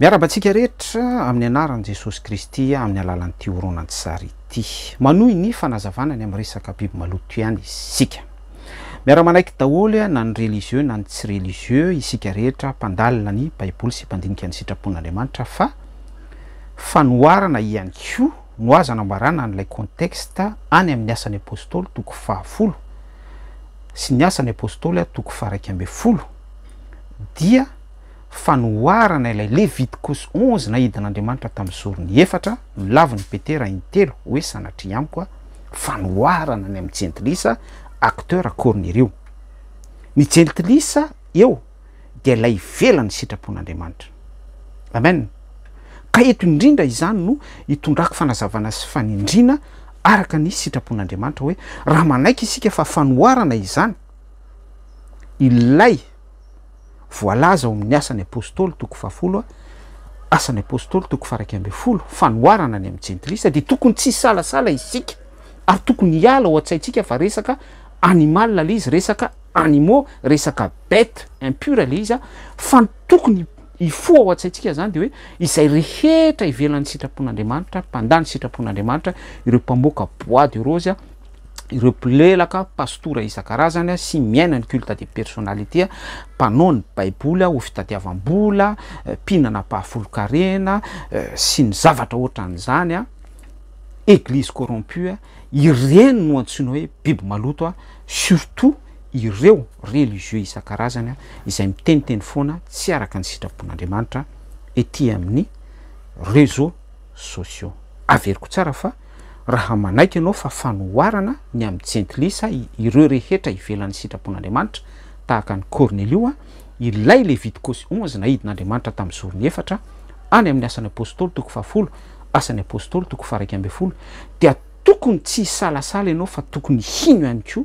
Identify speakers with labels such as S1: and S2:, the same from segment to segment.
S1: Miarahaba antsika rehetra amin'ny anaran'i Jesosy Kristy amin'ny alalan'ity horonantsary ity. Manohy ny fanazavana ny amin'ny resaka biby maloto ihany isika. Miara-manaiky daholo na ny religieux na ny tsy religieux isika rehetra mpandalina ny baiboly sy mpandinika ny sitrapon'Andriamanitra fa fanoharana ihany koa no azo anambarana an'ilay contexte any amin'ny Asan'ny Apostoly toko fahafolo sy ny Asan'ny Apostoly toko faha-iraika ambin'ny folo dia fanoharana ilay Leviticus onze naidin'Andriamanitra tamin'ny zorony efatra, milavin'i Petera intelo hoe sanatria amiko a, fanoharana ny amin'ny jentilisa, acteurs Kornelio. Ny jentilisa eo dia ilay ivelan'ny sitrapon'Andriamanitra. Amen. Ka eto indrindra izany no itondrako fanazavana sy fanindriana araka ny sitrapon'Andriamanitra hoe raha manaiky isika fa fanoharana izany, ilay. Voalaza ao amin'ny Asan'ny Apostoly toko fahafolo, Asan'ny Apostoly toko faharaika ambin'ny folo, fanoharana ny amin'ny jentilisa, dia tokony tsy hisalasala isika ary tokony hiala ao an-tsaintsika fa resaka animal ilay izy, resaka animaux, resaka bête impure ilay izy, fa ny tokony hifoha ao an-tsaintsika izany dia hoe izay rehetra ivelan'ny sitrapon'Andriamanitra, mpandà ny sitrapon'Andriamanitra, ireo mpamoaka bois de rose, ireo mpilelaka pastora isan-karazany a, sy miaina ny culte de personnalité a, mpanao ny baiboly a ho fitadiavam-bola, mpihinana ampahafolon-karena, sy ny zavatra ohatran'izany a, eglise corrompue a, ireny no antsoina hoe biby maloto a, surtout ireo religieux isan-karazany a, izay miteniteny foana tsy araka ny sitrapon'Andriamanitra ety amin'ny réseaux sociaux. Averiko tsara fa. raha manaiky ianao fa fanoharana ny amin'ny jentilisa ireo rehetra ivelan'ny sitrapon'Andriamanitra, tahaka an'i Kornelio, ilay Levitikosy onze naidin'Andriamanitra tamin'ny zorony efatra, any amin'ny Asan'ny Apostoly toko fahafolo, Asan'ny Apostoly toko faha-iraika ambin'ny folo, dia tokony tsy hisalasala ianao fa tokony hino ihany koa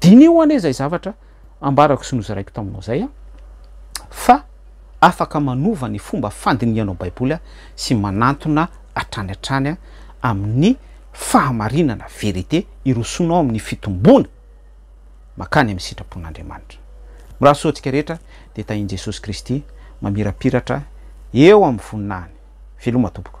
S1: Diniho anie izay zavatra ambarako sy nozaraiko taminao izay fa afaka manova ny fomba fandinihanao Baiboly sy manantona hatrany hatrany amin'ny fahamarinana, vérité, hirosoanao amin'ny fitomboana mankany amin'ny sitrapon'Andriamanitra. Mirahasoa antsika rehetra dia tahian'i Jesosy Kristy mamirapiratra eo amin'ny voninahiny. Veloma tompoko.